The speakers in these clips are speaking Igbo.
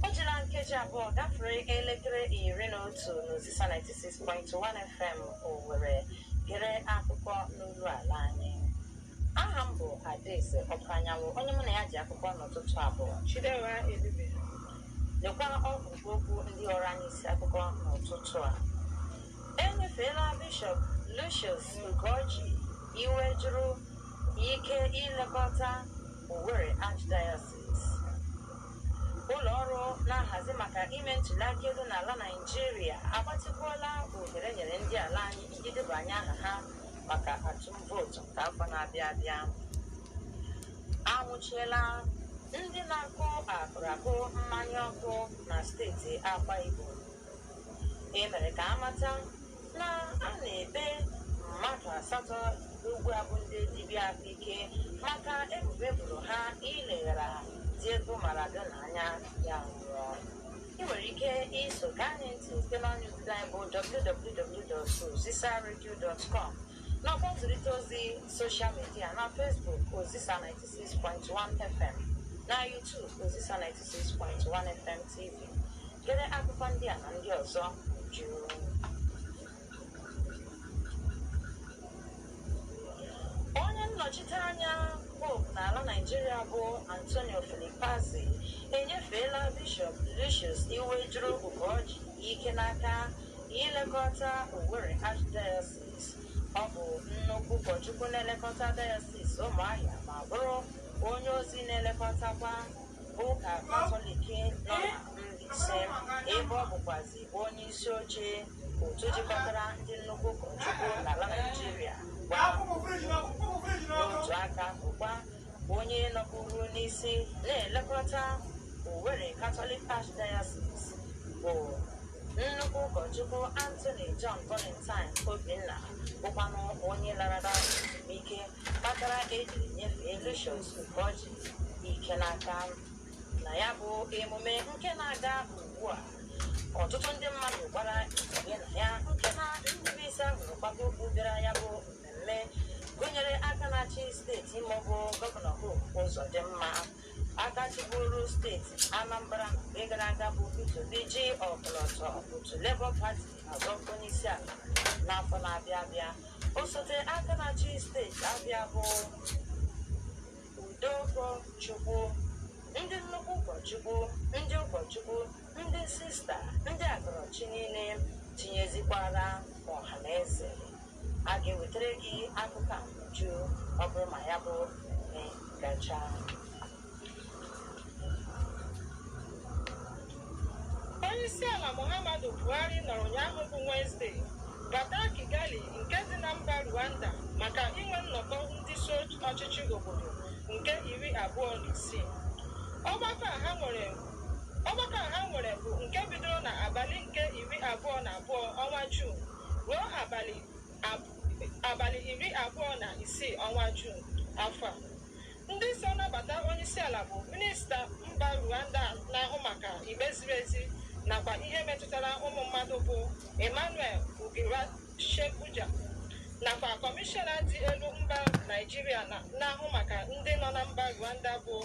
o jila nkeji abụọ gafere elekere iri na otu n'ozisa 96.1 fm owere gere akụkọ n'olu ala anyị aha m bụ adaeze ọpanyanwụ onye mụ na ya ji akụkọ n'ụtụtụ a bụ chidera ebube lekwa ọgwụgwụ okwu ndị ọrụ anyị isi akụkọ n'ụtụtụ a enyefeela bishọp lucius ugorji iwejuru ike ilekọta Owerri Archdiocese. Ụlọ ọrụ na-ahazi maka ime ntụliaka elu n'ala Naịjirịa agbatịkwuola ohere e nyere ndị ala anyị iji debanye aha ha maka atụm vootu nke afọ na-abịa abịa. Anwụchiela ndị na-akụ akụrụakụ mmanya ọkụ na steeti Akwa Ibom. E mere ka a mata na a na-ekpe mmadụ asatọ ugbu a bụ ndị dibịa ahụike maka ebubo eboro ha ileghara Diego Maradona anya ya nwụọ ị nwere ike iso gaa anyị ntị site n'ọnụ ozi anyị bụ www.ozisaradio.com nakwa nzirịta ozi soshal midia na Facebook Ozisa 96.1 FM na YouTube Ozisa 96.1 FM TV Gere akụkọ ndị a na ndị ọzọ n'uju. Onye nnọchite anya Pope n'ala Naịjirịa bụ Antonio Filipazzi enyefeela Bishọp Lucius Iwejuru Ugorji ike n'aka ilekọta Owerri Archdiocese. Ọ bụ nnukwu ụkọchukwu na-elekọta Diocese Ụmụahịa ma bụrụ onye ozi na-elekọtakwa ụka Katọlik nọ na Mbaise ebe ọ bụkwazi onye isi oche otu jikọtara ndị nnukwu ụkọchukwu n'ala Naịjirịa n'otu aka ahụkwa onye nọburu n'isi na-elekọta Owerri Catholic Archdiocese bụ nnukwu ụkọchukwu Anthony John Valentine Obinna bụkwanụ onye larala ezumike kpatara ejiri nyefee Lucius Ugorji ike n'aka na ya bụ emume nke na-aga ugbu a ọtụtụ ndị mmadụ gbara ntinye na ya nke na ndị bụ isi ahụrụ kwawa okpu bịara ya bụ mmemme gụnyere aka na-achị steeti Imo bụ gọvanọ Hope Uzodimma aka chịburu steeti Anambra mgbe gara aga bụ Peter Obi ji ọkọlọtọ otu Labour Party azọ ọkwa onye isi ala n'afọ na-abịa abịa osote aka na-achị steeti Abia bụ Udeụkọchukwu, ndị nnukwu ụkọchukwu, ndị ụkọchukwu, ndị sista, ndị agọrọchi niile, tinyezikwara ọha na eze. A ga-ewetara gị akụkọ a n'uju ọ bụrụ ma ya bụ mmemme gachaa. Onyeisiala Muhammadu Buhari nọrọ ụnyaahụ bụ Wenzde bata Kigali nke dị na mba Rwanda maka inwe nnọkọ ndị isi ọchịchị obodo nke iri abụọ na isii. Ọgbakọ a ha nwere bụ nke bidoro na abalị nke iri abụọ na abụọ ọnwa Juun ruo abalị iri abụọ na isii ọnwa Juun afọ a. Ndị so nabata onyeisiala bụ minista mba Rwanda na-ahụ maka ikpe ziri ezi nakwa ihe metụtara ụmụ mmadụ bụ Emmanuel Ugirashebuja nakwa kọmishọna dị elu mba Naịjirịa na-ahụ maka ndị nọ na mba Rwanda bụ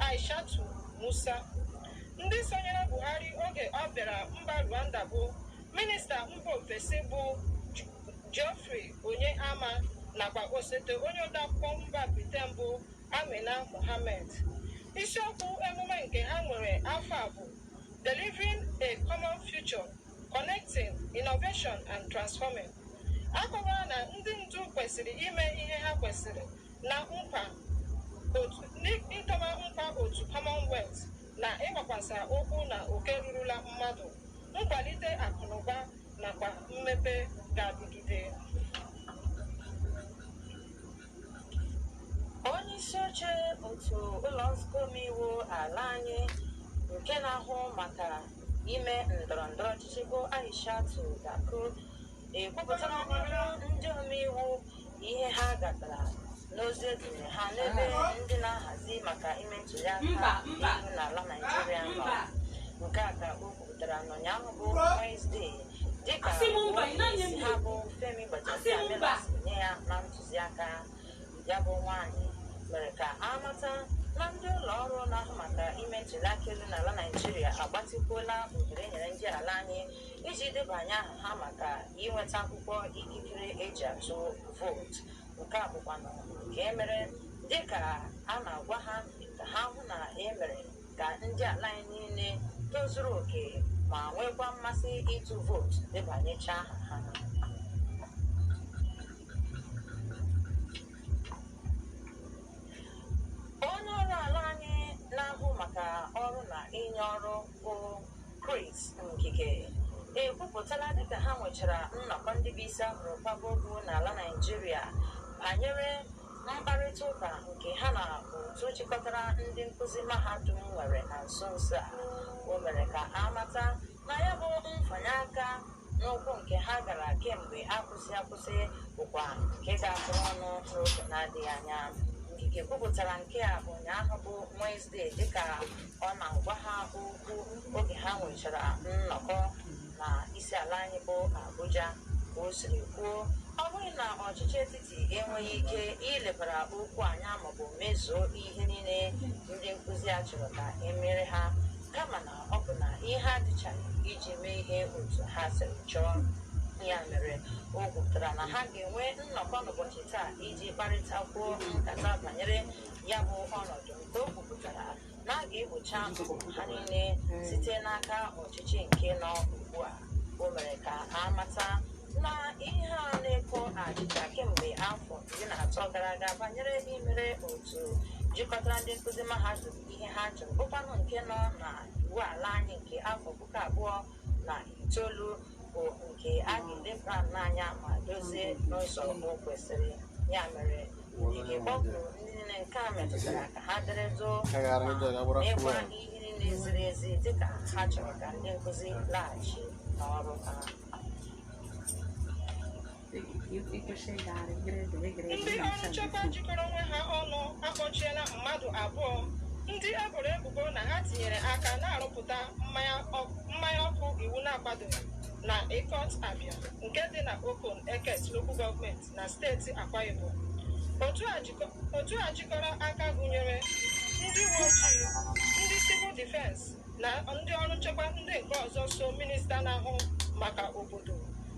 Aishatu Musa. Ndị sonyere Buhari oge ọ bịara mba Rwanda bụ minista mba ofesi bụ Geoffrey Onyeama nakwa osote onye odeakwụkwọ mba Briten bụ Amina Mohammed. Isiokwu emume nke ha nwere afọ a bụ Delivering a Common Future, Connecting Innovation and Transforming. A kọwara na ndị ndu kwesịrị ime ihe ha kwesịrị n'ịdọba nkwa otu Commonwealth na ịgbakwasa ụkwụ na oke rurula mmadụ, nkwalite akụnụba nakwa mmepe ga-adịgide. Onye isi oche otu ụlọ nzukọ omeiwu ala anyị nke na-ahụ maka ime ndọrọ ndọrọ ọchịchị bụ Aishatu Dukku ekwupụtala n'ihu ndị omeiwu ihe ha gatara n'ozi edere ha n'ebe ndị na-ahazi maka ime ntụliaka elu n'ala Naijiria nọ nke a ka o kwupụtara n'ụnyaahụ bụ Wenesde dịka onyeisi ha bụ Femi Gbajabiamila si nye ya na ntụziaka ya bụ nwaanyị mere ka a mata na ndị ụlọ ọrụ na-ahụ maka ime ntụliaka elu n'ala Naijiria agbatịkwuola ohere enyere ndị ala anyị iji debanye aha ha maka inweta akwụkwọ ikikere eji atụ vootu nke a bụkwanụ nke e mere dịka a na-agwa ha ka ha hụ na e mere ka ndị ala anyị niile tozuru oke ma nwekwa mmasị ịtụ vootu debanyecha aha ha onye ọrụ ala anyị na-ahụ maka ọrụ na inye ọrụ bụ Chris Ngige ekwupụtala dịka ha nwechara nnọkọ ndị bụ isi a hụrụ kwaba okpu n'ala Naịjirịa banyere mkparịta ụka nke ha na otu chịkọtara ndị nkụzi mahadum nwere na nso nso a o mere ka a mata na ya bụ mfanye aka N'ụkwụ nke ha gara kemgbe akwụsị akwụsị bụkwa nke ga-atụ ọnụ n'oge na-adịghị anya. Ngige kwupụtara nke a ụnyaahụ bụ Wenezdee dịka ọ na-agwa ha okwu oge ha nwechara nnọkọ na isi ala anyị bụ Abuja. Ka o siri kwuo, ọ bụghị na ọchịchị etiti enweghị ike ilebara okwu anya maọbụ mezuo ihe niile ndị nkụzi a chọrọ ka e mere ha kama na Ọ bụ na ihe adịchaghị iji mee ihe otu ha siri chọọ. Ya mere, o kwupụtara na ha ga-enwe nnọkọ n'ụbọchị taa iji kparịtakwuo nkata banyere ya bụ ọnọdụ nke o kwupụtara na a ga-egbocha mkpa ha niile site n'aka ọchịchị nke nọ ugbu a. O mere ka a mata na ihe a na-eko achịcha kemgbe afọ iri na atọ gara aga banyere imere otu jikọtara ndị nkụzi mahadum ihe ha chọrọ bụkwanụ nke nọ na iwu ala anyị nke afọ puku abụọ na itoolu bụ nke a ga-eleba n'anya ma dozie n'ụzọ o kwesịrị ya mere Ngige kpọkuru ndị niile nke a metụtara ka ha dere duu ma mekwa ihe niile ziri ezi dịka ha chọrọ ka ndị nkụzi laghachi n'ọrụ ha ndị ọrụ nchekwa jikọrọ onwe ha ọnụ akpọchiela mmadụ abụọ ndị e boro ebubo na ha tinyere aka na-arụpụta mmanya ọk- mmanya ọkụ iwu na-akwadoghị na Ikot Abia nke dị na Okon Eket Local Gọọmenti na steeti Akwa Ibom otu a jikọ- otu a jikọrọ aka gụnyere ndị uwe ojii ndị civil defense na ndị ọrụ nchekwa ndị nke ọzọ so minista na-ahụ maka obodo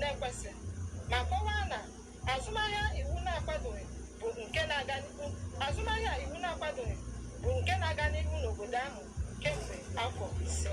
na-ekwesị ma kọwaa na azụmahịa iwu na-akwadoghị bụ nke na-aga n'ihu azụmahịa iwu na-akwadoghị bụ nke na-aga n'ihu n'obodo ahụ kemgbe afọ ise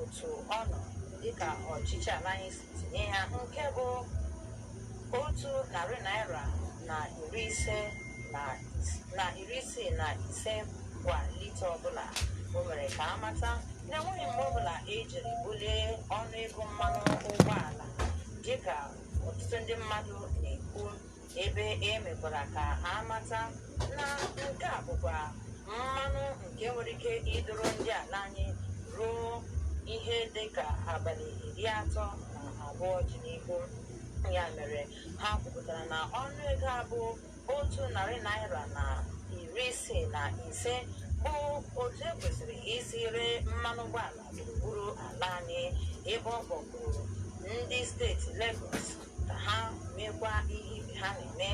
otu ọ nọ dịka ọchịchị ala anyị si tinye ya nke bụ otu narị naira na iri ise na is- na iri isii na ise kwa lita ọbụla o mere ka a mata na enweghị mgbe ọbụla ejiri bulie ọnụ ego mmanụ ụgbọala dịka ọtụtụ ndị mmadụ na-ekwu ebe e mekwara ka a mata na nke a bụkwa mmanụ nke nwere ike iduru ndị ala anyị ruo ihe dị ka abalị iri atọ na abụọ dị n'ihu ya mere ha kwupụtara na ọnụ ego a bụ otu narị naira na iri isii na ise bụ otu e kwesịrị isi ree mmanụ ụgbọala gburugburu ala anyị ebe ọ kpọkuru ndị steeti Lagos ka ha meekwa ihe ibe ha na-eme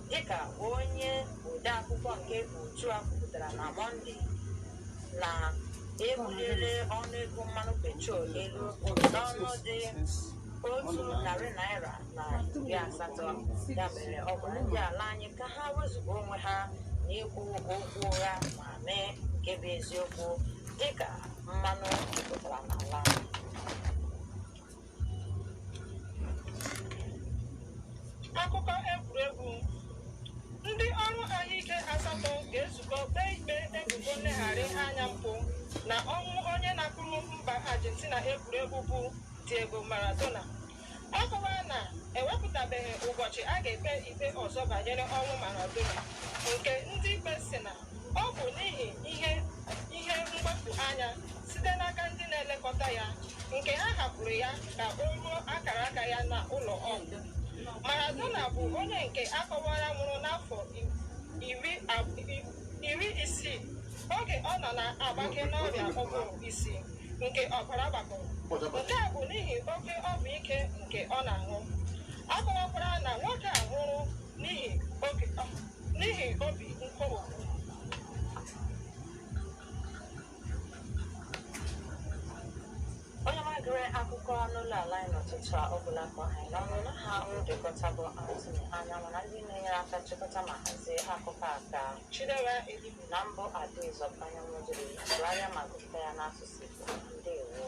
dịka onye odeakwụkwọ nke otu a kwupụtara na mọnde na e buliele ọnụego mmanụ petrol elu n'ọnụ dị otu narị naira na iri asatọ ya mere ọ gwara ndị ala anyị ka ha wezuga onwe ha n'ikwu okwu ụgha ma mee nke bụ eziokwu dịka mmanụ jupụtara n'ala anyị Akụkọ egwuregwu ndị ọrụ ahụike asatọ ga-ezukọ kpee ikpe ebubo nleghara anya mpụ na ọnwụ onye na-akụrụ mba Argentina egwuregwu bụ Diego Maradona. Ọ kọwara na ewepụtabeghị ụbọchị a ga-ekpe ikpe ọzọ banyere ọnwụ Maradona nke ndị ikpe sị na Ọ bụ n'ihi ihe ihe mgbapụ anya site n'aka ndị na-elekọta ya nke ha hapụrụ ya ka o ruo akara aka ya na ụlọ ọgwụ. Maradona bụ onye nke a kọwara nwụrụ n'afọ iri ab- i- iri isii oge ọ nọ na-agbake n'ọrịa ụbụrụ isi nke ọbara gbakọrọ. Nke a bụ n'ihi oke ọgwụ ike nke ọ na-aṅụ. A kọwakwara na nwoke a nwụrụ n'ihi oge n'ihi obi nkoropụ onye na-egere akụkọ n'ụlọ ala anyị n'ụtụtụ a ọ bụla kpọ anyị na unu na ha ndekọta bụ Anthony Anyanwụ na ndị na-enyere aka chịkọta ma hazie akụkọ a ka Chidera Edibu na m bụ Adaeze Anyanwụ jiri sụgharịa ma gụpụta ya n'asụsụ Igbo ndewo